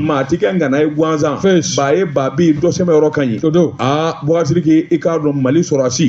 maa ti kɛ ngana ye gansan ba ye ba bi dɔ sɛmɛ yɔrɔ ka ɲi aa bɔgasiriki i k'a dɔn mali sɔrɔsi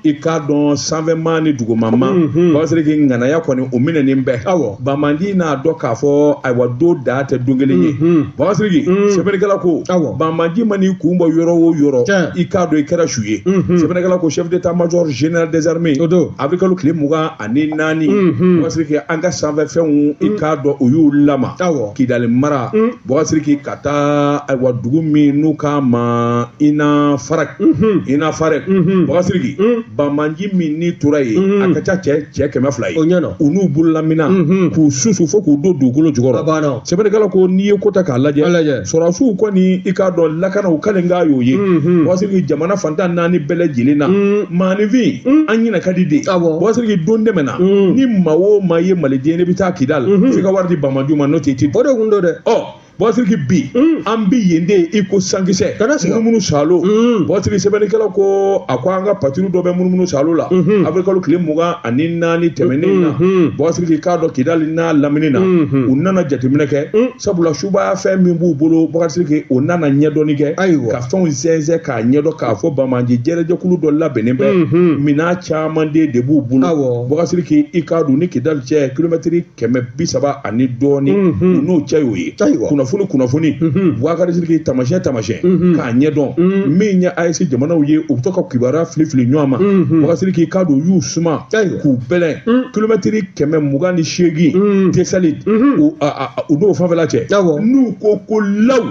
i k'a dɔn sanfɛma ni dugumama bɔgasiriki ŋanaya kɔni o minɛnen bɛ awɔ banbaanci n'a dɔn k'a fɔ ayiwa don dan tɛ don kelen ye bɔgasiriki sɛbɛnnikɛla ko awɔ banbaanci man'i kun bɔ yɔrɔ o yɔrɔ i k'a dɔn i kɛra su ye sɛbɛnnikɛla ko chef d'état major général des armées o don awirilikalo tile mugan ani naani mhm. bɔgasiriki an ka sanfɛfɛnw i mm. k'a dɔn o y'u lamaa kidali mara mm. bɔgasiriki ka taa ayiwa dugu min n'u k'a ma ina farak mhm. ina farek mhm. bɔgasiriki mm. banbaanci minnu tora yen a ka ca cɛ cɛ kɛmɛ fila ye u n'u bololamina k'u susu fo k'u don dugukolo jukɔrɔ sɛbɛnnikɛla ko n'i ye ko ta k'a lajɛ sɔrɔsiw kɔni i k'a dɔn lakanaw kalikan y'o ye mhm. bɔgasiriki jamana fan tan naani bɛɛ lajɛlen na mhm. maanifin mhm. an ɲinɛ ka di de bɔgasiriki don tɛmɛna ni maa o maa ye maliden ye n'i bɛ taa kidali f'i ka wari di banbaanci ma n'o tɛ ti o de kun don dɛ ɔ bɔgasiriki bi an bi yen de i ko sankisɛ munumunu salo bɔgasiriki sɛbɛnnikɛla ko a ko an ka patrouille dɔ bɛ munumunu salo la awirilikalo tile mugan ani naani tɛmɛnen na bɔgasiriki i k'a dɔn kidali n'a lamini na u nana jateminɛ kɛ sabula subaya fɛn min b'u bolo bɔgasiriki o nana ɲɛdɔnni kɛ ka fɛnw sɛnsɛn k'a ɲɛdɔn k'a fɔ banbaanci jɛrɛjɛkulu dɔ labɛnnen bɛ minan caman de b'u bolo bɔgasiriki i k'a dɔn ni kidali cɛ kilomɛtiri kɛmɛ bi saba ani dɔɔni u n'o cɛ y'o ye kunnafoni kunnafoni bɔgasiriki tamasiyɛn tamasiyɛn k'a ɲɛdɔn min ye AES jamanaw ye u bɛ to ka kibaruya fili fili ɲɔgɔn ma bɔgasiriki k'a dɔn u y'u suma k'u bɛlɛn kilomɛtiri kɛmɛ mugan ni seegin tesaliti u n'o fanfɛla cɛ n'u ko ko law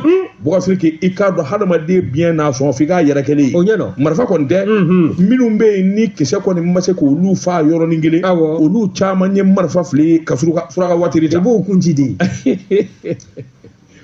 bɔgasiriki i k'a dɔn hadamaden biɲɛ n'a sɔn f'i k'a yɛrɛkɛlen ye o ɲɛ dɔn marifa kɔni tɛ minnu bɛ yen ni kisɛ kɔni ma se k'olu fa yɔrɔnin kelen olu caman ye marifa fili ka suraka watiri ta i b'o kun ci de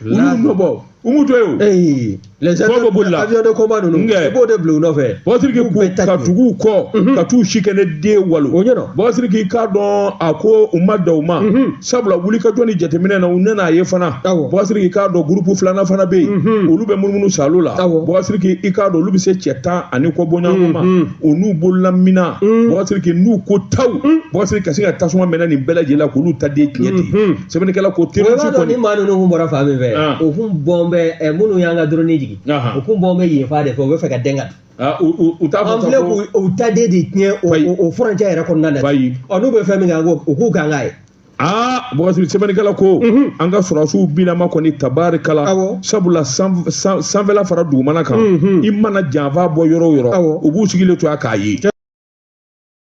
olu nɔ bɔ umu to ye o fɔ bɛ boli les avions de combat ninnu i b'o de bila u nɔfɛ bɔgasiriki ka tugu u kɔ ka t'u si kɛ ne den walo o ɲɛ dɔn bɔgasiriki i k'a dɔn a ko u ma dan o ma sabula wulikajɔ ni jateminɛ na u nana a ye fana bɔgasiriki i k'a dɔn gurupu filanan fana bɛ yen olu bɛ munumunu salo la bɔgasiriki i k'a dɔn olu bɛ se cɛ tan ani kɔ bɔɲɔgɔnko ma u n'u bololamina bɔgasiriki n'u ko taw bɔgasiriki ka se ka tasuma mɛnɛ nin bɛɛ lajɛlen la k'olu ta den tiɲɛ ten sɛbɛnnikɛla ko terroriste kɔni. ni maa ninnu kun bɔra fan min fɛ u kun bɔn bɛ minnu y'an ka dɔrɔni jigin u kun bɔn bɛ yen fan de fɛ u bɛ fɛ ka dɛn ka Ah, u t'a fɔ an filɛ k'u ta de de tiɲɛ o furancɛ yɛrɛ kɔnɔna na bayi ɔ n'u bɛ fɛn min kan u k'u kan k'a ye aa bɔgasiriki sɛbɛnnikɛla ko mhm. an ka sɔrɔsiw binama kɔni tabarikala sabula sanfɛla fara dugumana kan mhm. i mana janfa bɔ yɔrɔ o yɔrɔ u b'u sigilen to yan k'a ye